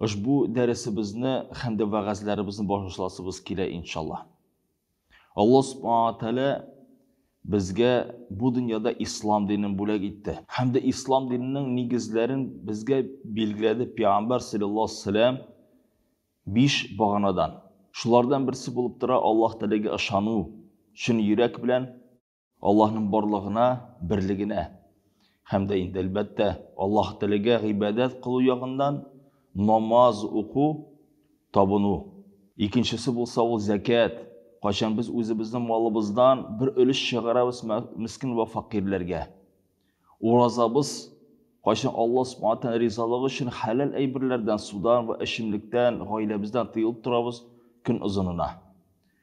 Ошбу дәресебезне һәм дә вәгазьләребезне башласыбыз килә иншаллаһ. Аллаһ субхана ва тәгалә безгә бу дөньяда ислам динен бүләк итте. Һәм дә ислам диненең нигезләрен безгә билгеләде пәйгамбәр саллаллаһу алейһи вәсәләм биш баганадан. Шулардан берсе булып тора Аллаһ теләге ышану, чын йөрәк белән Аллаһның барлыгына, берлегенә һәм дә инде әлбәттә Аллаһ телегә гыйбадәт кылу ягыннан намаз уку, табыну. Икенчесе булса ул зәкят. Кайчан без үзебезнең малыбыздан бер өлеш чыгарабыз мескин вә факирләргә. Уразабыз кайчан Аллаһ Субханәһү ризалыгы өчен хәләл әйберләрдән, судан вә эчемлектән, гаиләбездән тыелып торабыз көн озынына.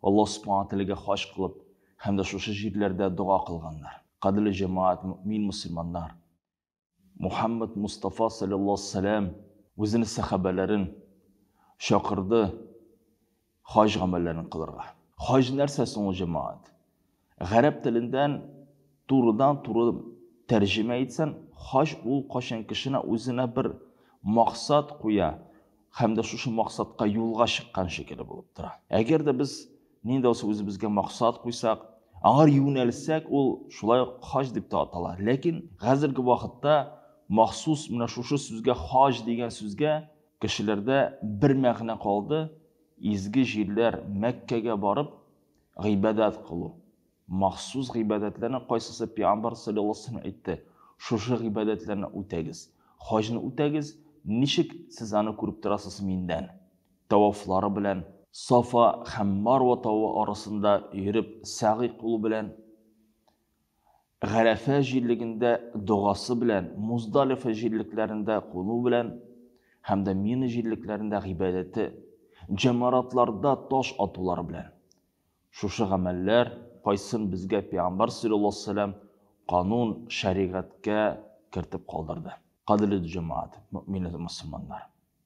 Аллаһ Субхана Тәгаләгә хаҗ кылып һәм дә шушы җирләрдә дога кылганнар. Кадерле җәмәгать, мөэмин мөселманнар! Мухәммәд Мостафа салләллаһу алейһи ва сәлләм үзенең сәхабәләрен чакырды хаҗ гамәлләрен кылырга. Хаҗ нәрсә соң ул, җәмәгать? Гарәп телендан турыдан туры тәрҗемә итсән, хаҗ ул кайчан кешене үзенә бер максат куя һәм дә шушы максатка юлга чыккан шикелле булып тора. Әгәр дә без нинди булса үзебезгә максат куйсак, аңар юнәлсәк, ул шулай ук хаҗ дип тә атала. Ләкин хәзерге вакытта махсус менә шушы сүзгә хаҗ дигән сүзгә кешеләрдә бер мәгънә калды, изге җирләр Мәккәгә барып, Гыйбадәт кылу. Махсус гыйбадәтләрнең кайсысы пиамбар салләллаһу әйтте, шушы гыйбадәтләрне үтәгез. Хаҗны үтәгез, ничек сез аны күреп торасыз миндән. Тавафлары белән, Сафа һәм Марва тавы арасында йөреп сәгый кылу белән, Гарәфә җирлегендә догасы белән, Муздалифа җирлекләрендә куну белән һәм дә Мина җирлекләрендә гыйбадәте, җәмаратларда таш атулары белән. Шушы гамәлләр кайсын безгә Пәйгамбәр салләллаһу алейһи ва сәлләм канун, шәригатькә кертеп калдырды. Кадерле җәмәгать, мөэминнәр, мөселманнар!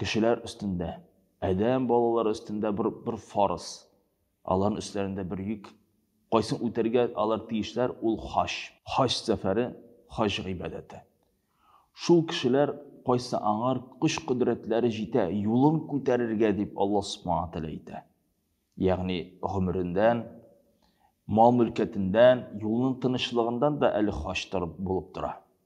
Кешеләр өстендә, адәм балалары өстендә бер, бер фарыз. Аларның өсләрендә бер йөк. Кайсын үтәргә алар тиешләр, ул хаҗ. Хаҗ сәфәре, хаҗ гыйбадәте. Шул кешеләр, кайсы аңар көч-кодрәтләре җитә, юлын күтәрергә дип Аллаһ Субхана ва Тәгалә әйтә. Ягъни гомерендән, мал-мөлкәтендән, юлның тынычлыгындан да әле хаҗ торып, булып тора.